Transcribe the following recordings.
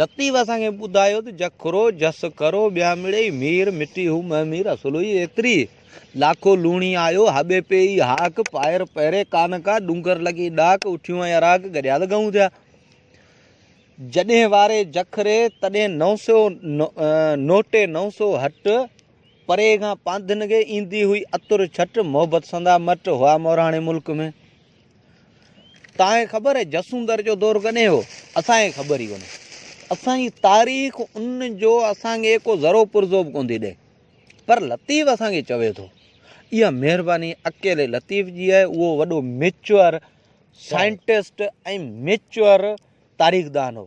لطيف اسان کي ٻڌايو ته جکرو، جس کرو، ٻيامڙئي، مير، مٽي هو مئه مير، اسلوئي ايتري، لاکو لوڻي آيو، هاٻي پئي ئي هاڪ، پائر پهري ڪان ڪا، ڏونگر لڳي ڏاڪ، اٺيون ۽ اراڪ، گڏيال ڳئون ٿيا. جڏهن واري جکري، تڏهن نو سئو نوٽي نو سئو هٽ، پري کان پانڌنگي، ايندي هئي عطر ڇٽ، محبت سندا مٽ، هئا مورهاڻي ملڪ ۾. تانکي خبر آهي جسوندر جو دور ڪڏهن هو؟ اسان کي خبر ئي ڪونهي. اسان جي تاريخ ان جو اسان کي ڪو ذرو پرزو به ڪونهي ٿي ڏئي. پر لطيف اسان کي چوي ٿو. اها مهرباني اڪيلي لطيف جي آهي اهو وڏو ميچوئر سائنٽسٽ ۽ ميچوئر تاريخدان هو.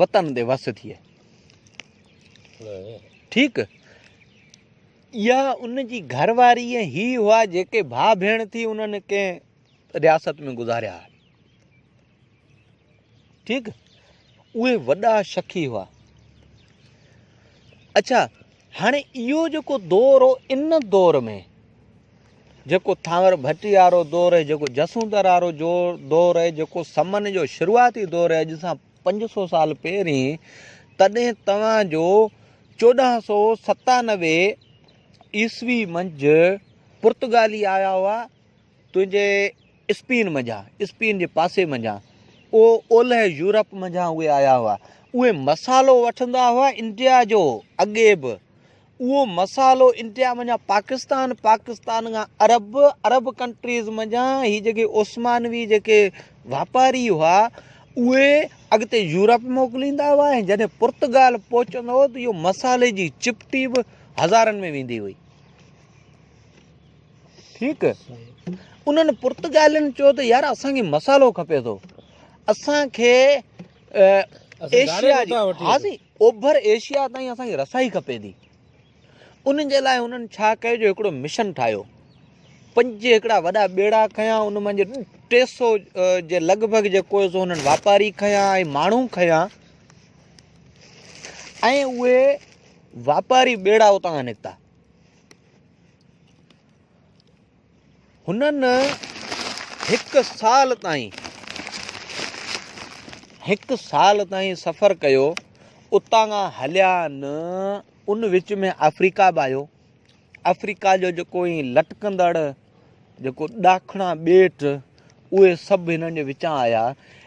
وطن دي وس ٿئي. ٺيڪ اها ان جي گهر واري ۽ هي هئا جيڪي ڀاء ڀيڻ ٿي انهن ڪنهن رياست ۾ گذاريا هئا ٺيڪ اهي وڏا شخي هئا اچھا هاڻي اهو جيڪو دور هو ان دور ۾ جيڪو ٿانور ڀٽي وارو دور هي جيڪو جسوندر وارو جو دور هي جيڪو سمن جو شروعاتي دور هي اڄ سان پنج سو سال پهرين تڏهن توهان جو چوڏهن سو ستانوي عيسوي منجهه پرتگالي آيا هئا تنهنجي اسپين منجهان، اسپين جي پاسي منجهان، او اولهه يورپ منجهان اهي آيا هئا. اهي مصالحو وٺندا هئا انڊيا جو، اڳي به. اهو مصالحو انڊيا منجهان پاڪستان، پاڪستان کان عرب، عرب ڪنٽريز منجهان هي جيڪي عثمانوي جيڪي واپاري هئا، اهي اڳتي يورپ موڪليندا هئا ۽ جڏهن پرتگال پهچندو هو ته اهو مصالحي جي چپٽي به هزارن ۾ ويندي هئي. ٺيڪ انهن پرتگالين چيو ته يار اسان کي مسالو کپي ٿو اسان کي ايشيا جي ها سي اوڀر ايشيا تائين اسان کي رسائي کپي ٿي انهن جي لاء انهن ڇا ڪيو جو هڪڙو مشن ٺاهيو پنج هڪڙا وڏا ٻيڙا کنيا ان مان جو ٽي سو جي لڳ ڀڳ جيڪو سو انهن واپاري کنيا ۽ ماڻهو کنيا ۽ اهي واپاري ٻيڙا اتان کان نڪتا هنن هڪ سال تائين هڪ سال تائين سفر ڪيو اتان کان هليا آهن ان وچ ۾ آفريڪا به آيو آفريڪا جو جيڪو هي لٽڪندڙ جيڪو ڏاکڻا ٻيٽ اهي سڀ هنن جي وچان آيا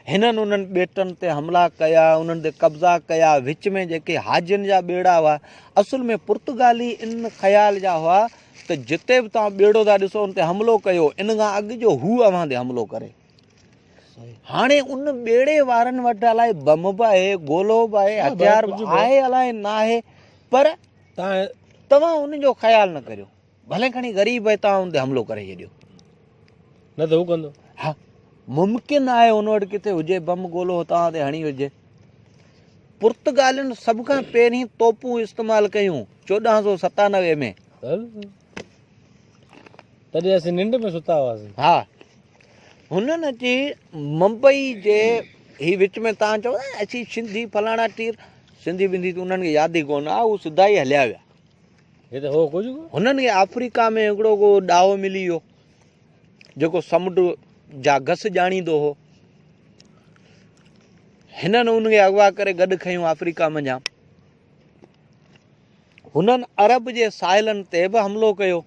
هنن انهن ٻيٽن تي حملا ڪيا انهن تي قبضا ڪيا وچ ۾ جيڪي حاجين جا ٻيڙا هئا اصل ۾ پرتگالي ان خيال جا هئا ته جتي به توهان ٻيڙو ٿا ڏسو ان تي حملو ڪيو ان کان اڳ جو هو اوهان تي حملو ڪري هاڻي ان ٻيڙي وارن وٽ الائي بم به آهي گولو به آهي هٿيار به آهي الائي ناهي پر توهان ان جو خيال نه ڪريو ڀلي کڻي غريب ۽ تعاون تي حملو ڪري ڇڏيو. نه ته هو ڪندو. ها ممڪن آهي هن وٽ ڪٿي هجي بم گولو هتان تي هڻي وجهي. پرتگالين سڀ کان پهرين توپون استعمال ڪيون چوڏهن سو ستانوي ۾ تڏهن اسين ننڊ ۾ ستا هئاسين ها هنن اچي ممبئي جي هي وچ ۾ تان چو اسين سنڌي فلاڻا ٽير سنڌي بنڌي تون انهن کي ياد ئي ڪون آ هو سڌا ئي هليا ويا هنن کي آفريڪا ۾ هڪڙو ڪو ڏاهو ملي ويو جيڪو سمنڊ جا گس ڄاڻيندو هو هنن ان کي اغوا ڪري گڏ کنيو آفريڪا منجهان هنن عرب جي ساحلن تي به حملو ڪيو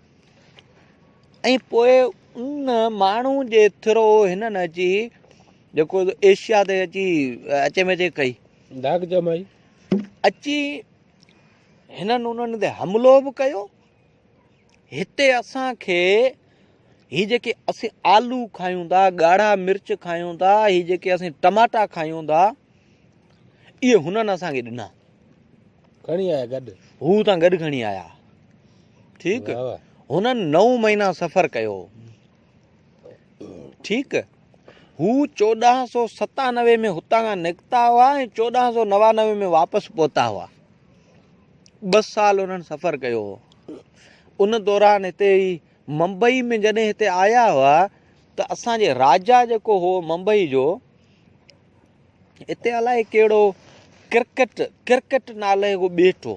۽ پوء ان ماڻهو جي ٿرو هنن اچي جيڪو ايشيا تي اچي اچي مچي ڪئي اچي هنن انهن تي حملو به ڪيو. هتي اسان کي هي جيڪي اسين آلو کايون ٿا ڳاڙها مرچ کايون ٿا هي جيڪي اسين ٽماٽا کايون ٿا اهي هنن اسان کي ڏنا کڻي آيا گڏ هو تان گڏ کڻي آيا ٺيڪ هنن نو مهينا سفر ڪيو ٺيڪ هو چوڏهن سو ستانوي ۾ هتان کان نڪتا هئا ۽ چوڏهن سو نوانوي ۾ واپس پهتا هئا ٻه سال انهن سفر ڪيو هو ان دوران هتي ئي ممبئي ۾ جڏهن هتي آيا هئا ته اسانجي راجا جيڪو هو ممبئي جو هتي الائي ڪهڙو ڪرڪٽ ڪرڪٽ نالي هو ٻيٽ هو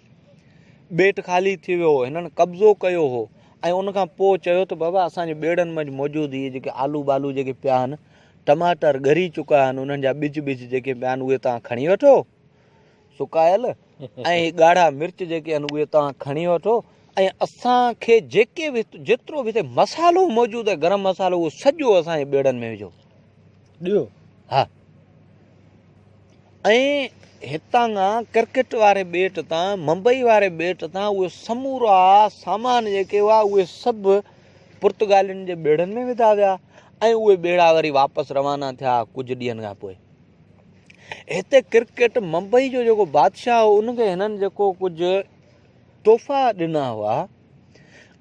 ٻيٽ خالي ٿي ويو هو، هنن قبضو ڪيو هو ۽ ان کان پوء چيو ته بابا اسان جي ٻيڙن منجھ موجود هي جيڪي آلو بالو جيڪي پيا آهن، ٽماٽر ڳري چڪا آهن، انهن جا ٻج ٻج جيڪي پيا آهن اهي توهان کڻي وٺو سڪايل ۽ هي ڳاڙها مرچ جيڪي آهن اهي توهان کڻي وٺو ۽ اسان کي جيڪي به جيترو به هتي مصالحو موجود آهي گرم مصالحو اهو سڄو اسان جي ٻيڙن ۾ وجھو. ڏيو ها ۽ هتان کان ڪرڪٽ واري ٻيٽ تان ممبئي واري ٻيٽ تان اهي سمورا سامان جيڪي هئا اهي سڀ پرتگالين جي ٻيڙن ۾ وڌا ويا ۽ اهي ٻيڙا وري واپس روانا ٿيا ڪجهه ڏينهن کان پوء هتي ڪرڪٽ ممبئي جو جيڪو بادشاهه هو ان کي هنن جيڪو ڪجهه تحفا ڏنا هئا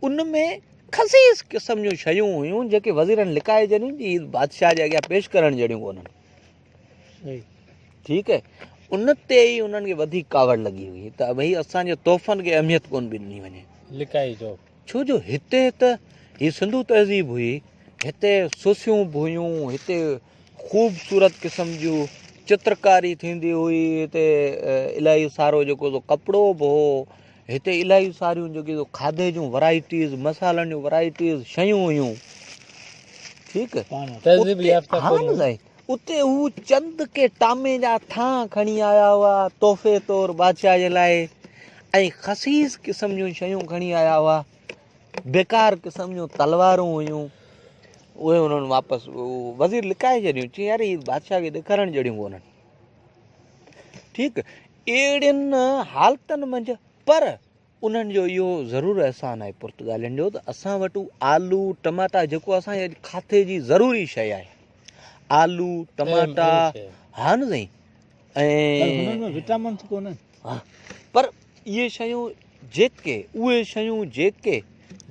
ان ۾ خسيس قسم جون شيون هيون جيڪي وزيرن لڪائي جنيون جي بادشاهه جي اڳيان پيش ڪرڻ جهڙيون ڪونهن ٺيڪ آهي ان تي ئي انهن کي وڌيڪ ڪاوڙ لڳي هئي ته ڀئي اسان جي تحفن کي اهميت ڪون به ڏني وڃي لکائي جو ڇو جو هتي ته هي سنڌو تهذيب هئي هتي سوسيون به هيون هتي خوبصورت قسم جون چترڪاري ٿيندي هئي هتي الاهي سارو جيڪو ڪپڙو به هو هتي الاهي ساريون جيڪي کاڌي جون ورائٽيز مصالحن جون ورائٽيز شيون هيون ٺيڪ اتي هو چند ڪي ٽامي جا ٿان کڻي آيا هئا تحفي طور بادشاهه جي لاء ۽ خصيص قسم جون شيون کڻي آيا هئا بيڪار قسم جون تلوارون هيون اهي انهن واپس وزير لڪائي ڇڏيون چي يار هي بادشاهه کي ڏيکارڻ جهڙيون ڪونهن ٺيڪ اهڙين حالتن منجهه پر انهن جو اهو ضرور احسان آهي پرتگالين جو ته اسان وٽ آلو ٽماٽا جيڪو اسان جي اڄ کاٿي جي ضروري شيء آهي آلو ٽماٽا ها نه سائين انهن ۾ وٽامنس ڪونهن ها پر اهي شيون جيڪي اهي شيون جيڪي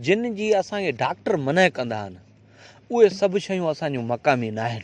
جن جي اسان کي ڊاڪٽر منع ڪندا آهن اهي سڀ شيون اسان جون مقامي ناهن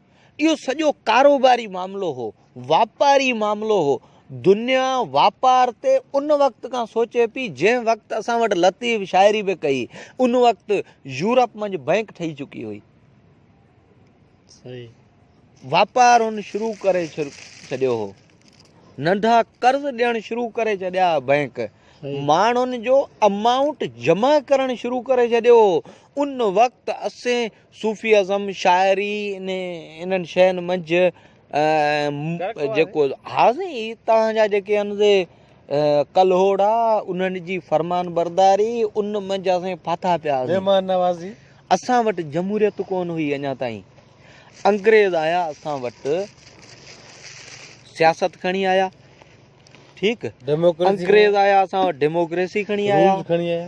اهو سڄو ڪاروباري معاملو هو، واپاري معاملو هو. دنيا واپار تي ان وقت کان سوچي پئي، جنهن وقت اسان وٽ لطيف شاعري به ڪئي. ان وقت يورپ منجهه بئنڪ ٺهي چڪي هئي. واپار هن شروع ڪري ڇڏيو هو. ننڍا قرض ڏيڻ شروع ڪري ڇڏيا ها بئنڪ. ماڻهن جو امائونٽ جمع ڪرڻ شروع ڪري ڇڏيو هو. ان وقت اسين صوفي ازم شاعري انهن شين منجهه جيڪو ها سائين هي توهان جا جيڪي آهن سي ڪلهوڙا انهن جي فرمان برداري ان منجهه اسين ڦاٿا پيا مهمان نوازي اسان وٽ جمهوريت ڪون هئي اڃا تائين انگريز آيا اسان وٽ سياست کڻي آيا ٺيڪ انگريز آيا اسان وٽ ڊيموڪريسي کڻي آيا کڻي آيا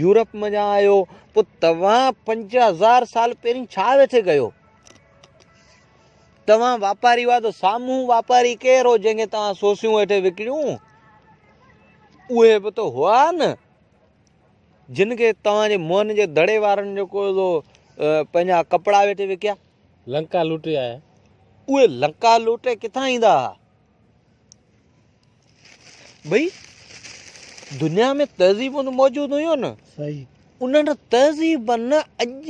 يورپ م جا آهيو پو توهان پنج هزار سال پهرين ڇا ويٺي ڪيو توهان واپاري هئا ته سامهون واپاري ڪير هو جنهن کي توهان سوسيون ويٺي وڪڻيون اهي به ته هئا نه جن کي توهان جي موهن جي دڙي وارن جيڪو پنهنجا ڪپڙا ويٺي وڪيا لنڪا لوٽي آيا اهي لنڪا لوٽي ڪٿان ايندا هئا ٻئي دنيا ۾ تهذيبون ته موجود هيون نه صحيح انهن تهذيبن اڄ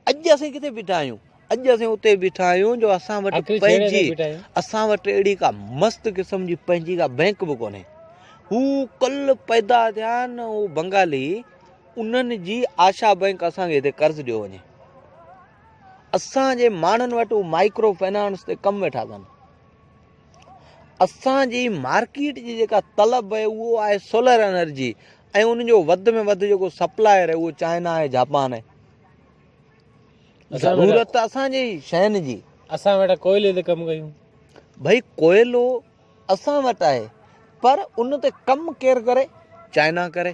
اڄ اسين ڪٿي بيٺا آهيون اڄ اسين اتي بيٺا آهيون جو اسان وٽ آخري ڇيڙي تي پنهنجي بيٺا آهيون اسان وٽ اهڙي ڪا مست قسم جي پنهنجي ڪا بئنڪ به ڪونهي هو کل پيدا ٿيا آهن هو بنگالي انهن جي آشا بئنڪ اسان کي هتي قرض ڏيو وڃي اسان جي ماڻهن وٽ هو مائڪرو فنانس تي ڪم ويٺا ڪن اسان جي مارڪيٽ جي جيڪا طلب آهي اهو آهي سولر انرجي ۽ ان جو وڌ ۾ وڌ جيڪو سپلائر آهي اهو چائنا آهي جاپان آهي ضرورت اسانجي شين جي اسان وٽ ڪوئلي تي ڪم ڪيون ڀائی ڪوئلو اسان وٽ آهي پر ان تي ڪم ڪير ڪري چائنا ڪري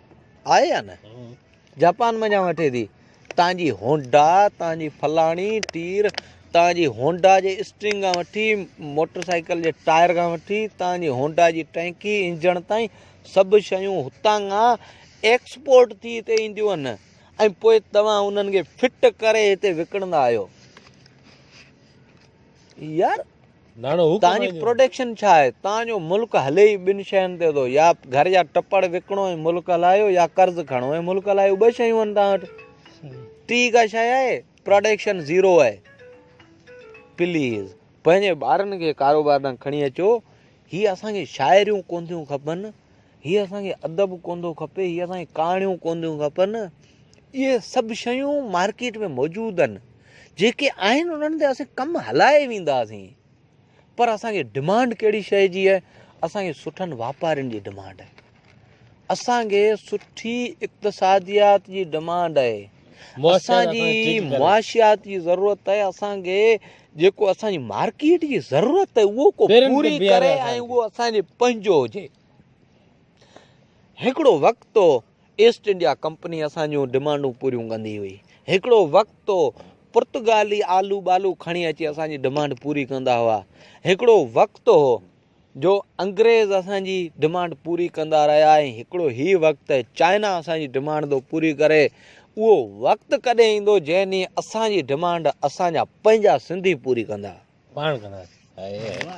آهي يا نه جاپان منجهان وٺي ٿي تان جي هونڊا تان جي فلاڻي ٽير تان جي هونڊا جي اسٽرنگ کان وٺي موٽر سائيڪل جي ٽائر کان وٺي تان جي هونڊا جي ٽينڪي انجڻ تائين سڀ شيون هتان کان ايڪسپورٽ ٿي هتي اينديون آهن ۽ پوء توهان انهن کي فٽ ڪري هتي وڪڻندا آهيو يار توهان جي پروڊڪشن ڇا آهي؟ توهان جو ملڪ هلي ئي ٻن شين تي ٿو، يا گهر جا ٽپڙ وڪڻو ۽ ملڪ هلايو يا قرض کڻو ۽ ملڪ هلايو، ٻه شيون آهن توهان وٽ. ٽي ڪا شيء آهي؟ پروڊڪشن زيرو آهي. پليز پنهنجي ٻارن کي ڪاروبار ڏانهن کڻي اچو. هي اسان کي شاعريون ڪونه ٿيون کپن. هي اسان کي ادب ڪون ٿو کپي، هي اسان کي ڪهاڻيون ڪون ٿيون کپن، اهي سڀ شيون مارڪيٽ ۾ موجود آهن جيڪي آهن انهن تي اسان ڪم هلائي وينداسين پر اسانکي ڊمانڊ ڪهڙي شي جي آهي اسانکي سٺن واپارين جي ڊمانڊ آهي اسانکي سٺي اقتصاديات جي ڊمانڊ آهي اسانجي معاشيات جي ضرورت آهي اسانکي جيڪو اسانجي مارڪيٽ جي ضرورت آهي اهو ڪو پوري ڪري ۽ اهو اسانجي پنهنجو هجي هڪڙو وقت هو ايسٽ انڊيا ڪمپني اسان جون ڊمانڊون پوريون ڪندي هئي هڪڙو وقت هو پرتگالي آلو بالو کڻي اچي اسان جي ڊمانڊ پوري ڪندا هئا هڪڙو وقت هو جو انگريز اسان جي ڊمانڊ پوري ڪندا رهيا ۽ هڪڙو هي وقت چائنا اسان جي ڊمانڊ ٿو پوري ڪري اهو وقت ڪڏهن ايندو جنهن ڏينهن اسان جي ڊمانڊ اسان جا پنهنجا سنڌي پوري ڪندا پاڻ ڪندا